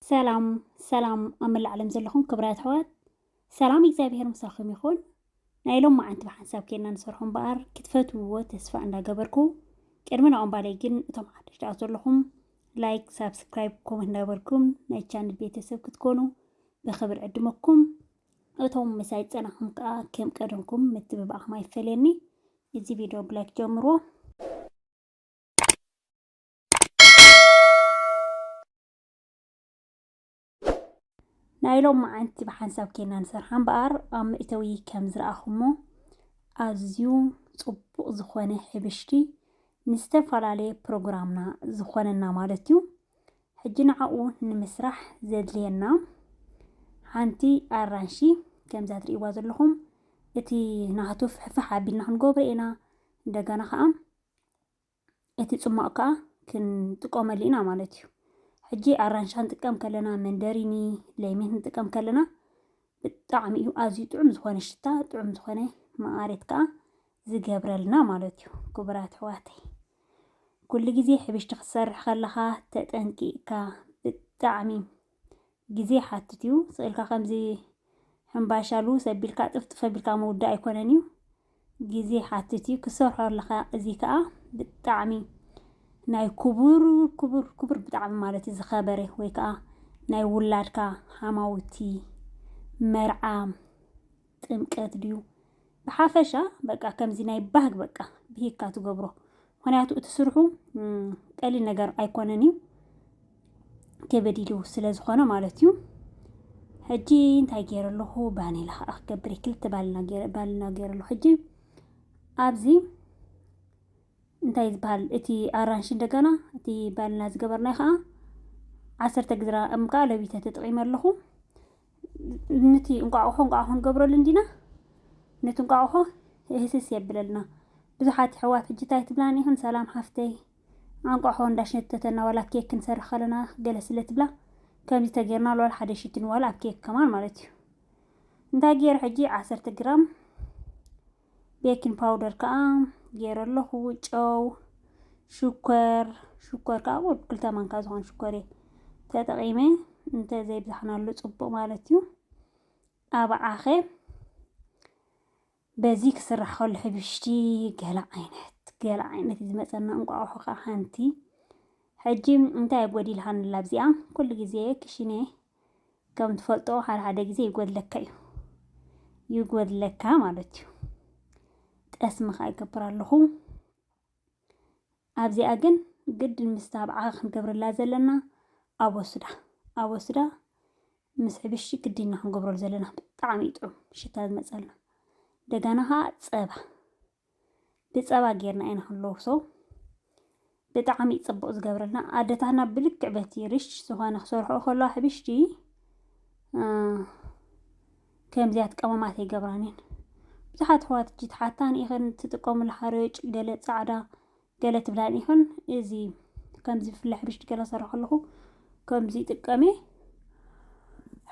ሰላም ሰላም ኣብ መላእ ዓለም ዘለኹም ክብራት ኣሕዋት ሰላም እግዚኣብሄር ምሳኹም ይኹን ናይ ሎም መዓንቲ ብሓንሳብ ኬና ንሰርሖ እምበኣር ክትፈትውዎ ተስፋ እንዳገበርኩ ቅድሚ ናኦም ባለይ ግን እቶም ሓደሽቲ ኣት ዘለኹም ላይክ ሳብስክራይብ ኮመንት እንዳበርኩም ናይ ቻነል ቤተሰብ ክትኮኑ ብክብር ዕድመኩም እቶም ምሳይ ፀናኹም ከዓ ከም ቀደምኩም ምትብባዕኹም ኣይፈለየኒ እዚ ቪድዮ ብላይክ ጀምሮ ናይ ሎም መዓንቲ ብሓንሳብ ኬና ንሰርሓ እምበኣር ኣብ መእተዊ ከም ዝረኣኹሞ ኣዝዩ ጽቡቕ ዝኾነ ሕብሽቲ ንዝተፈላለየ ፕሮግራምና ዝኾነና ማለት እዩ ሕጂ ንዓኡ ንምስራሕ ዘድልየና ሓንቲ ኣራንሺ ከምዛ ትርእይዋ ዘለኹም እቲ ናህቱ ፍሕፍሕ ኣቢልና ክንገብሮ ኢና እንደገና ከዓ እቲ ጽሟቕ ከኣ ክንጥቀመሉ ኢና ማለት እዩ። ሕጂ ኣራንሻ ንጥቀም ከለና መንደሪኒ፣ ለሚን ንጥቀም ከለና ብጣዕሚ እዩ ኣዝዩ ጥዑም ዝኾነ ሽታ ጥዑም ዝኾነ መኣሬት ከኣ ዝገብረልና ማለት እዩ። ክቡራት ኣሕዋተይ ኩሉ ግዜ ሕብሽቲ ክትሰርሕ ከለኻ ተጠንቂቕካ ብጣዕሚ ግዜ ይሓትት እዩ። ስእልካ ከምዚ ሕምባሻ ልውስ ኣቢልካ ጥፍጥፍ ኣቢልካ ምውዳእ ኣይኮነን እዩ። ግዜ ይሓትት እዩ ክሰርሖ ኣለኻ። እዚ ከዓ ብጣዕሚ ናይ ክቡር ክቡር ክቡር ብጣዕሚ ማለት እዩ ዝኸበረ ወይ ከዓ ናይ ውላድካ ሓማውቲ መርዓ ጥምቀት ድዩ ብሓፈሻ በቃ ከምዚ ናይ ባህግ በቃ ብሂግካ ትገብሮ ምክንያቱ እቲ ስርሑ ቀሊል ነገር ኣይኮነን እዩ ከበድ ኢሉ ስለ ዝኾነ ማለት እዩ ሕጂ እንታይ ገይረ ኣለኹ ባኔላ ከዓ ክገብር ክልተ ባልና ገይረ ኣለኹ ሕጂ ኣብዚ እንታይ ዝበሃል እቲ ኣራንሽ እንደገና እቲ ባልና ዝገበርናይ ከዓ ዓሰርተ ግዝራ እምካ ለቢተ ተጠቂመ ኣለኹ ንቲ እንቋቑሖ እንቋቑሖ ክንገብረሉ እንዲና ነቲ እንቋቑሖ ህስስ የብለልና ብዙሓት ኣሕዋት ሕጂ እንታይ ትብላኒ ይኹን ሰላም ሓፍተይ ኣንቋሖ እንዳሽነተተና ዋላ ኬክ ክንሰርሕ ከለና ገለ ስለ ትብላ ከምዚ ተጌርና ዋላ ሓደ ሽትን ዋላ ኣብ ኬክ ከማን ማለት እዩ እንታይ ገይረ ሕጂ ዓሰርተ ግራም ቤኪን ፓውደር ከዓ ገይረ ኣለኹ ጨው ሽኮር ሽኮር ከዓ ወድ ክልተ ማንካ ዝኾን ሽኮር እየ ተጠቂመ እንተዘይብዛሕናሉ ፅቡቅ ማለት እዩ ኣብዓኸ በዚ ክስራሕ ከሎ ሕብሽቲ ገለ ዓይነት ገለ ዓይነት እዩ ዝመፀና እንቋቑሖ ከዓ ሓንቲ ሕጂ እንታይ ጎዲልሃንላ ኣብዚኣ ኩሉ ግዜ ክሽነ ከም ትፈልጦ ሓደ ሓደ ግዜ ይጎድለካ እዩ ይጎድለካ ማለት እዩ ጠስሚ ከዓ ይገብር ኣለኹ ኣብዚኣ ግን ግድን ምስ ታብዓ ክንገብረላ ዘለና ኣቦስዳ ኣቦስዳ ምስ ሕብሽቲ ግድና ክንገብረሉ ዘለና ብጣዕሚ እዩ ጥዑም ሽታ ዝመፀልና እንደገና ከዓ ፀባ ብጸባ ጌርና ኢና ክንለውሶ ብጣዕሚ ጽቡቅ ዝገብረልና ኣደታትና ብልክዕ በቲ ሪች ዝኾነ ክሰርሑ ከለዋ ሕብሽቲ ከምዚያት ቀመማት ኣይገብራንን ብዙሓት ኣሕዋት እጂ ትሓታን ኢኽን ትጥቀሙሉ ሓርጭ ገለ ጻዕዳ ገለ ትብላን ይኹን እዚ ከምዚ ብፍላይ ሕብሽቲ ገለ ሰራ ከለኹ ከምዚ ይጥቀም እየ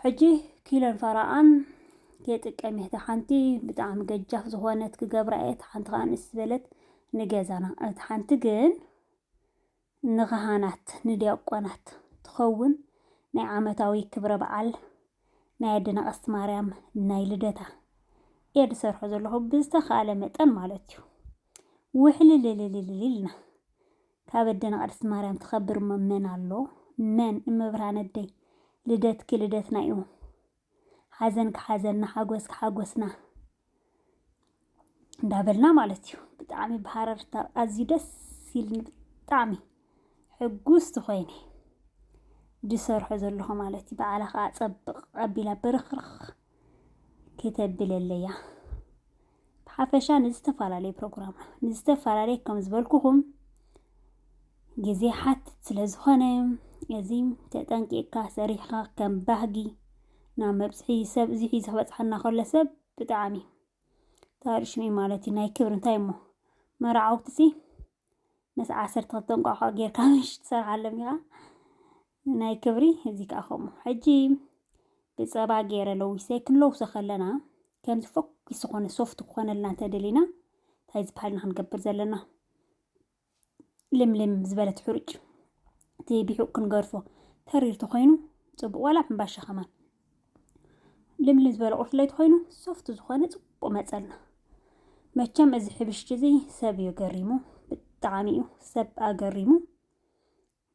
ሕጂ ኪሎን ፈራኣን የጥቀም እየ ሓንቲ ብጣዕሚ ገጃፍ ዝኾነት ክገብራ እየ እቲ ሓንቲ ከዓ ንእስ ዝበለት ንገዛና እቲ ሓንቲ ግን ንኻህናት ንዲያቆናት ትኸውን ናይ ዓመታዊ ክብረ በዓል ናይ ኣደና ቀስት ማርያም ናይ ልደታ እየ ዝሰርሖ ዘለኹ ብዝተኻእለ መጠን ማለት እዩ ውሕልልልልልልና ካብ ኣደና ቅድስት ማርያም ትኸብር መን ኣሎ መን እመብርሃን ኣደይ ልደትኪ ልደትና እዩ ሓዘንኪ ሓዘንና ሓጎስኪ ሓጎስና እንዳበልና ማለት እዩ ብጣዕሚ ብሃረርታ ኣዝዩ ደስ ኢልኒ ብጣዕሚ ሕጉስቲ ኮይነ ዝሰርሖ ዘለኹ ማለት እዩ በዓላ ከዓ ፀብቕ ኣቢላ ብርኽርኽ ክተብለለያ ብሓፈሻ ንዝተፈላለዩ ፕሮግራም ንዝተፈላለየ ከም ዝበልኩኹም ግዜ ሓትት ስለ ዝኾነ እዚ ተጠንቂቕካ ሰሪሕኻ ከም ባህጊ ናብ መብጽሒ ሰብ እዚ ሒዙ ክበጽሓና ከሎ ሰብ ብጣዕሚ ታሪ ሽመይ ማለት እዩ ናይ ክብሪ እንታይ እሞ መራዓውቲ ሲ ምስ ዓሰርተ ክልተ እንቋቋ ጌርካ ምሽ ትሰርሓሎም ኢኻ ናይ ክብሪ እዚ ከዓ ከምኡ ሕጂ ብጸባ ገይረ ለዊሰ ክንለውሶ ከለና ከምዚ ፎኪስ ዝኾነ ሶፍት ክኾነልና እንተደሊና እንታይ ዝበሃል ኢና ክንገብር ዘለና ልምልም ዝበለት ሕሩጭ እቲ ቢሑቕ ክንገርፎ ተሪር ተኾይኑ ፅቡቕ ዋላ ሕምባሻ ከማን ልምልም ዝበለ ቁርፍለይ ተኾይኑ ሶፍቲ ዝኾነ ፅቡቕ መፀልና መቸም እዚ ሕብሽቲ እዚ ሰብ እዩ ገሪሙ ብጣዕሚ እዩ ሰብ ኣገሪሙ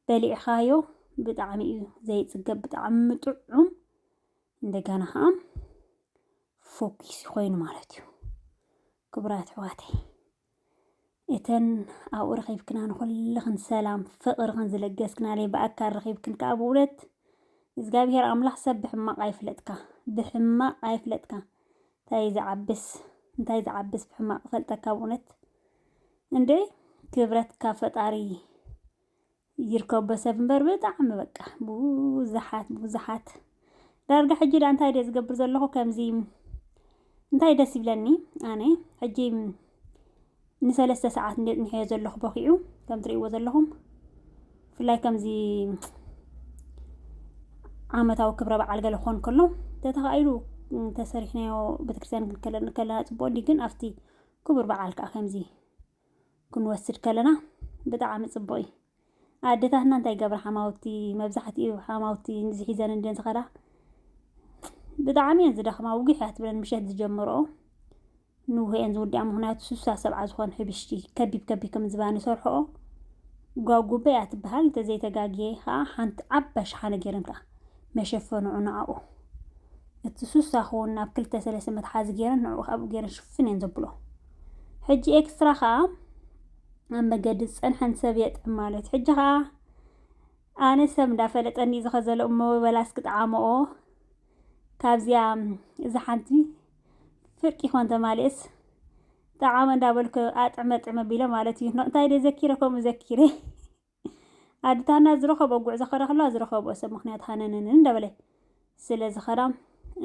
በሊዕኻዮ ብጣዕሚ እዩ ዘይፅገብ ብጣዕሚ ጥዑም እንደገና ከዓ ፎኪስ ኮይኑ ማለት እዩ ክቡራት ኣሕዋተይ እተን ኣብኡ ረኺብክና ንኹልኽን ሰላም ፍቕርኽን ዝለገስክናለይ ብኣካል ረኺብክን ከዓ ብእውነት እግዚኣብሔር ኣምላኽ ሰብ ብሕማቕ ኣይፍለጥካ ብሕማቕ ኣይፍለጥካ እንታይ ዝዓብስ እንታይ ዝዓብስ ብሕማቕ ፈልጠካ ብእውነት እንዴ ክብረት ካብ ፈጣሪ ይርከቦ ሰብ እምበር ብጣዕሚ በቃ ብዙሓት ብዙሓት ዳርጋ ሕጂ ዳ እንታይ ድየ ዝገብር ዘለኹ ከምዚ እንታይ ደስ ይብለኒ ኣነ ሕጂ ንሰለስተ ሰዓት እንደ ጽኒሐዮ ዘለኹ በኺዑ ከም ትርእይዎ ዘለኹም ብፍላይ ከምዚ ዓመታዊ ክብረ በዓል ገለ ክኾን ከሎ ተተኻኢሉ ተሰሪሕናዮ ቤተክርስትያን ክንከለና ጽቡቅ እንዲ ግን ኣብቲ ክቡር በዓል ከዓ ከምዚ ክንወስድ ከለና ብጣዕሚ ጽቡቅ እዩ ኣደታትና እንታይ ገብራ ሓማውቲ መብዛሕትኡ ሓማውቲ ንዚ ሒዘን እንድን ዝኸዳ ብጣዕሚ እየን ዝደኽማ ውግሕ እያ ትብለን ምሸት ዝጀምርኦ ንውህ እየን ዝውድኣ ምክንያቱ ስሳ ሰብዓ ዝኾን ሕብሽቲ ከቢብ ከቢብ ከም ዝባን ይሰርሕኦ ጓጉበ እያ ትበሃል እንተዘይተጋግየ ከዓ ሓንቲ ዓባ ሸሓነ ገይረን ከዓ መሸፈኒ ንዓኡ እቲ ሱሳ ክውን ናብ ክልተ ሰለስተ መትሓዚ ገይረን ንዕኡ ካብኡ ገይረን ሽፍን እየን ዘብሎ ሕጂ ኤክስትራ ከኣ ኣብ መገዲ ዝጸንሐን ሰብ የጥዕም ማለት እዩ። ሕጂ ከኣ ኣነ ሰብ እንዳፈለጠኒ እዚ ከዘሎ እሞ በላስ ክጥዓመኦ ካብዚኣ እዚ ሓንቲ ፍርቂ ኮን ተማልኤስ ጠዓመ እንዳበልኩ ኣጥዕመ ጥዕመ ቢለ ማለት እዩ። እንታይ ደይ ዘኪረ ከምኡ ዘኪረ ኣድታና ዝረኸብኦ ጉዕዞ ከረክላ ዝረኸብኦ ሰብ ምክንያት ሃነነንን እንዳበለ ስለ ዝኸዳ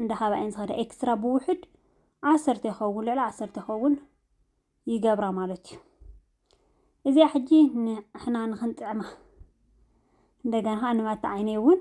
እንዳሃባ እየን ዝኸዳ ኤክስትራ ብውሑድ ዓሰርተ ይኸውን ልዕሊ ዓሰርተ ይኸውን ይገብራ ማለት እዩ እዚኣ ሕጂ ንሕና ንክንጥዕማ እንደገና ከዓ ንማታ ዓይነይ እውን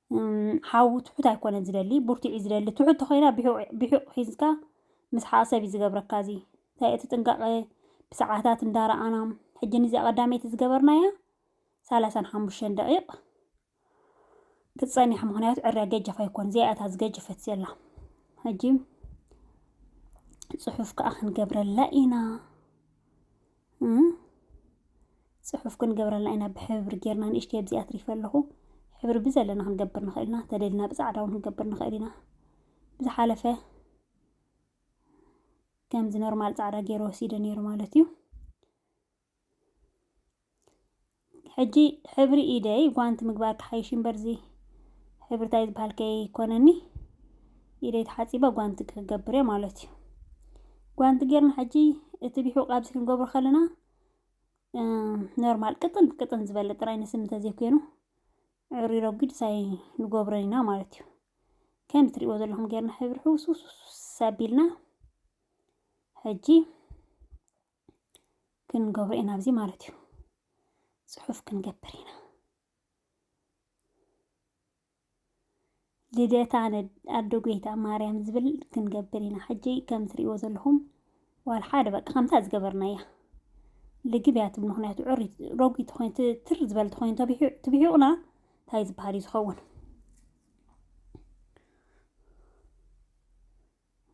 ሓው ትሑት ኣይኮነን ዝደሊ ብርቱዕ እዩ ዝደሊ ትሑት ተኮይና ብሒቁ ሒዝካ ምስሓቅ ሰብ እዩ ዝገብረካ እዚ እንታይ እቲ ጥንቃቀ ብሰዓታት እንዳረኣና ሕጂ ንዚኣ ቀዳመይቲ ዝገበርናያ ሳላሳን ሓሙሽተን ደቂቅ ክትጸኒሕ ምክንያቱ ዕርያ ገጀፍ ኣይኮን ዚኣ እታ ዝገጀፈት ዘላ ሕጂ ጽሑፍ ከዓ ክንገብረላ ኢና ፅሑፍ ክንገብረልና ኢና ብሕብሪ ጌርና ንእሽተይ ኣብዚኣ ኣትሪፈ ኣለኹ ሕብሪ ብዘለና ክንገብር ንኽእል ኢና ተደልና ብፃዕዳ እውን ክንገብር ንኽእል ኢና ብዝሓለፈ ከምዚ ኖርማል ፃዕዳ ገይሩ ወሲደ ነይሩ ማለት እዩ ሕጂ ሕብሪ ኢደይ ጓንቲ ምግባር ክሓይሽ እዩ እምበር እዚ ሕብሪ ታይ ዝበሃል ከይኮነኒ ኢደይ ተሓፂበ ጓንቲ ክገብር እየ ማለት እዩ ጓንቲ ጌርና ሕጂ እቲ ቢሑቕ ኣብዚ ክንገብሮ ከለና ኖርማል ቅጥን ቅጥን ዝበለ ጥራይ ንስም እንተዘይኮይኑ ዕሩይ ረጒድ ሳይ ንገብሮ ኢና ማለት እዩ ከም እትሪእዎ ዘለኹም ጌርና ሕብሪ ሕውስውስውስ ኣቢልና ሕጂ ክንገብሮ ኢና ኣብዚ ማለት እዩ ፅሑፍ ክንገብር ኢና ልደታ ኣዶ ጎይታ ማርያም ዝብል ክንገብር ኢና ሕጂ ከም ትሪእዎ ዘለኹም ዋል ሓደ በቃ ከምታ ዝገበርና እያ ልግብ እያ ትብል ምክንያቱ ዕሪ ረጒድ ኮይኑ ትር ዝበል ኮይኑ ትብሒቑና እንታይ ዝበሃል እዩ ዝኸውን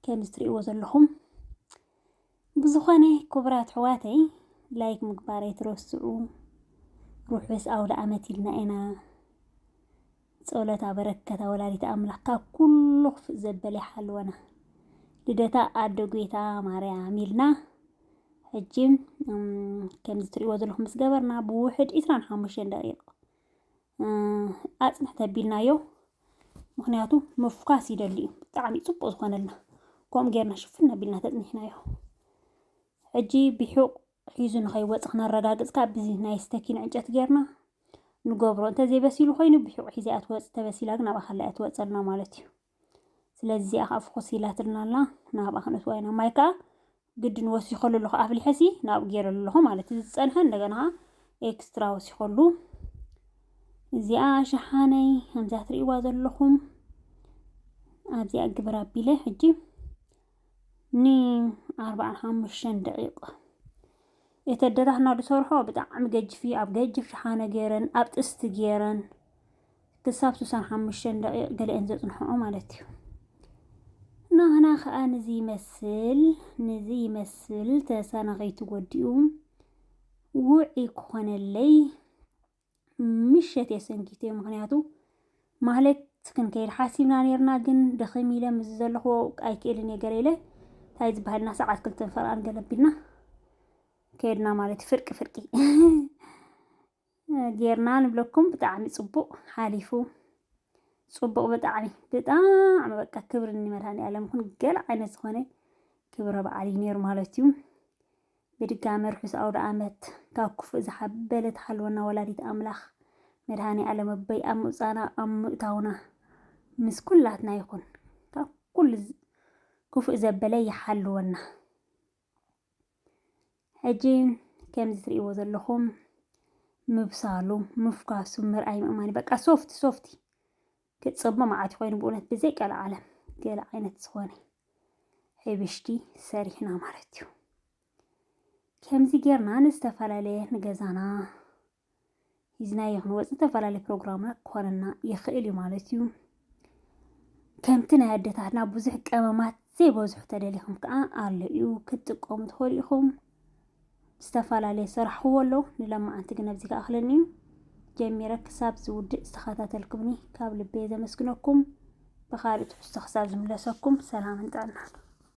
ከም ዝትርእይዎ ዘለኹም ብዝኾነ ክቡራት ኣሕዋተይ ላይክ ምግባር ኣይትረስዑ። ርሑስ ኣውደ ዓመት ኢልና ኢና። ጸሎት ኣበረከታ ወላዲተ ኣምላክ ካብ ኩሉ ክፍእ ዘበለ ይሓልወና። ልደታ ኣደ ጎይታ ማርያም ኢልና ሕጂ ከምዚ ትርእይዎ ዘለኹም ምስ ገበርና ብውሕድ 25 ደቂቕ ኣፅንሕ ተቢልናዮ ምክንያቱ ምፍኳስ ይደሊ እዩ ብጣዕሚ ፅቡቅ ዝኮነልና ከምኡ ጌርና ሽፍን ኣቢልና ተፅኒሕናዮ ሕጂ ብሑቅ ሒዙ ንከይወፅ ክነረጋግፅ ከዓ ብዚ ናይ ስተኪን ዕንጨት ጌርና ንገብሮ እንተዘይበሲሉ ኮይኑ ብሑቅ ሒዘ እያ ትወፅ ተበሲላ ግን ኣብኣ ከላ እያ ትወፀልና ማለት እዩ ስለዚ እዚኣ ከዓ ፍኹስ ኢላትልና ኣላ ናብኣ ክንእትዋ ኢና ማይ ከዓ ግድን ወሲኸሉ ኣለኹ ኣፍሊሐሲ ናብኡ ገይረሉ ኣለኹ ማለት እዩ ዝፀንሐ እንደገና ከዓ ኤክስትራ ወሲኸሉ እዚኣ ሸሓነይ ከምዛ ትርእይዋ ዘለኹም ኣብዚኣ ግብር ኣቢለ ሕጂ ን ኣርባዓን ሓሙሽተን ደቂቕ እቲ ኣደታትና ዝሰርሖ ብጣዕሚ ገጅፍ እዩ ኣብ ገጅፍ ሸሓነ ገይረን ኣብ ጥስቲ ገይረን ክሳብ ስሳን ሓሙሽተን ደቂቕ ገሊአን ዘጽንሕኦ ማለት እዩ ናህና ከዓ ንዚ ይመስል ንዚ ይመስል ተሳና ከይትጎዲኡ ውዒ ክኾነለይ ምሸት እየ ሰንኪተዮ ምክንያቱ ማህሌት ክንከይድ ሓሲብና ነርና ግን ደኺም ኢለ ምስ ዘለኹዎ ኣይክእልን እየ ገለ ኢለ እንታይ ዝበሃልና ሰዓት ክልተን ፈርቃን ገለ ቢልና ከድና ማለት እዩ ፍርቂ ፍርቂ ጌርና ንብለኩም ብጣዕሚ ፅቡቅ ሓሊፉ ፅቡቅ ብጣዕሚ ብጣዕሚ በቃ ክብሪ ንመድሃኒዓለም ይኹን ገለ ዓይነት ዝኾነ ክብረ በዓል እዩ ነይሩ ማለት እዩ ብድጋመ ርሑስ ኣውደኣመት ካብ ክፉእ ዝሓበለ ትሓልወና ወላዲት ኣምላክ መድሃኒኣለም ኣቦይ ኣብ ምውጻእና ኣብ ምእታውና ምስ ኩላትና ይኩን ካብ ኩሉ ክፉእ ዘበለ ይሓልወና ሕጂ ከምዚ ትርእይዎ ዘለኹም ምብሳሉ ምፍኳሱ ምርኣይ ምእማኒ በቃ ሶፍቲ ሶፍቲ ክጽቦ መዓት ኮይኑ ብእውነት ብዘይ ቀልዓለም ገለ ዓይነት ዝኾነ ሕብሽቲ ሰሪሕና ማለት እዩ ከምዚ ጌርና ንዝተፈላለየ ንገዛና ሂዝናዮ ክንወፅ ዝተፈላለየ ፕሮግራምና ክኾነና ይኽእል እዩ ማለት እዩ ከምቲ ናይ ኣደታትና ብዙሕ ቀመማት ዘይበዝሑ ተደሊኹም ከዓ ኣሎ እዩ ክትጥቀሙ ትኽእሉ ኢኹም ዝተፈላለየ ዝሰራሕኽዎ ኣሎ ንለማዓንቲ ግን ኣብዚ ክኣኽለኒ እዩ ጀሚረ ክሳብ ዝውድእ ዝተኸታተልኩምኒ ካብ ልበየ ዘመስግነኩም ብኻልእ ትሕዝቶ ክሳብ ዝምለሰኩም ሰላምን ጥዕናን